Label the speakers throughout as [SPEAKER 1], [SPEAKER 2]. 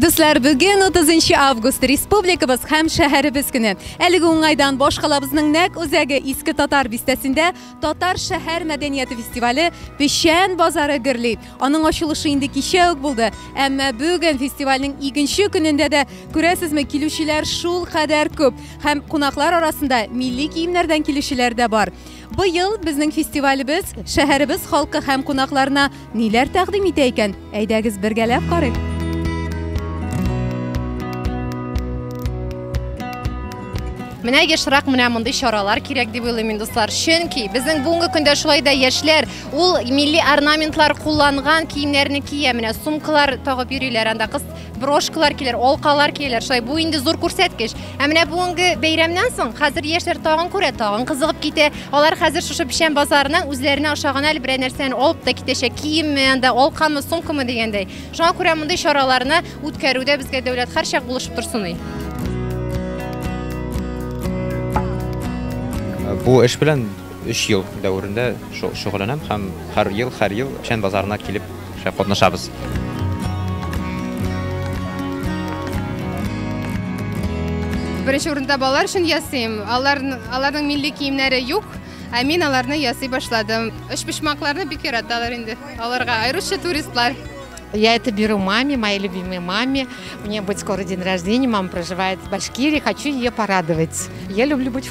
[SPEAKER 1] Дуслар, бүген 30 август республикабыз һәм шәһәребез көне. Әлеге уңайдан башкалабызның нәк үзәге Иске Татар бистәсендә Татар шәһәр мәдәнияты фестивале Печән базары гөрли. Аның ачылышы инде кичә үк булды. Әмма бүген фестивальнең икенче көнендә дә күрәсезме, килүчеләр шул кадәр күп һәм кунаклар арасында милли киемнәрдән килүчеләр дә бар. Быел безнең фестивалебез шәһәребез халкы һәм кунакларына ниләр тәкъдим итә икән? Әйдәгез бергәләп карыйк. Менә ешрак менә мондый чаралар кирәк дип уйлыйм мин, дуслар. Чөнки безнең бүгенге көндә шулай да яшьләр ул милли орнаментлар кулланган киемнәрне кия, менә сумкалар тагып йөриләр анда кыз брошкалар килер, алкалар килер. Шулай бу инде зур күрсәткеч. Ә менә бүгенге бәйрәмнән соң хәзер яшьләр тагын күрә, тагын кызыгып китә. Алар хәзер шушы печән базарына үзләренә ошаган әле берәр нәрсәне алып та китәчәк. Киемме, анда алкамы, сумкамы дигәндәй. Шуңа күрә мондый чараларны үткәрүдә безгә дәүләт һәрчак булышып торсын и.
[SPEAKER 2] Бу эш белән 3 ел дәверендә шөгыльләнәм һәм һәр ел, һәр ел печән базарына килеп Шә катнашабыз.
[SPEAKER 3] Беренче урында балалар өчен ясыйм. Алар аларның милли киемнәре юк. Ә мин аларны ясый башладым. Өч почмакларны бик яраталар инде. Аларга аеруча туристлар. Я это
[SPEAKER 4] беру маме, моей любимой маме. У нее будет скоро день рождения, мама проживает в Башкирии, хочу ее порадовать. Я люблю быть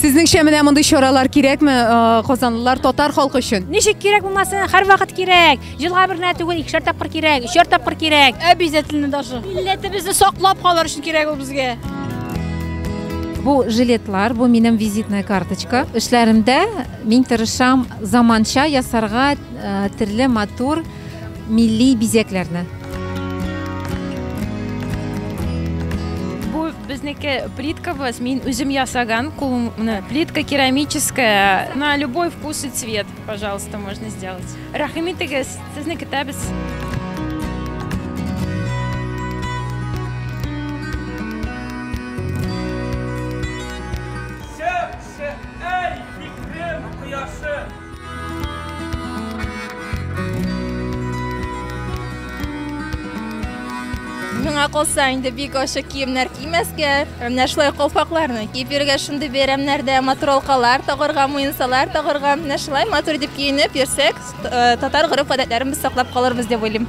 [SPEAKER 5] Сезнеңчә менә
[SPEAKER 1] мондый чаралар кирәкме э, казанлылар татар халкы өчен? Ничек кирәк булмасын,
[SPEAKER 5] һәрвакыт кирәк. Елга бер генә түгел, икешәр тапкыр кирәк, өчәр тапкыр кирәк. Обязательно даже. Милләтебезне саклап калыр өчен кирәк ул безгә.
[SPEAKER 6] Бу жилетлар, бу минем визитная карточка. Эшләремдә мин тырышам заманча ясарга, э, төрле матур милли бизәкләрне.
[SPEAKER 7] безнеке плиткабыз мин үзем ясаган кулым плитка керамическая на любой вкус и цвет пожалуйста можно сделать рәхим итегез сезне көтәбез
[SPEAKER 8] миңа калса инде бик ачы киемнәр кимәскә менә шулай калфакларны киеп йөрергә шундый бәйрәмнәрдә матуралкалар тагырга муенсалар тагырга менә шулай матур итеп киенеп йөрсәк татар гореф гадәтләрен без саклап калырбыз дип уйлыйм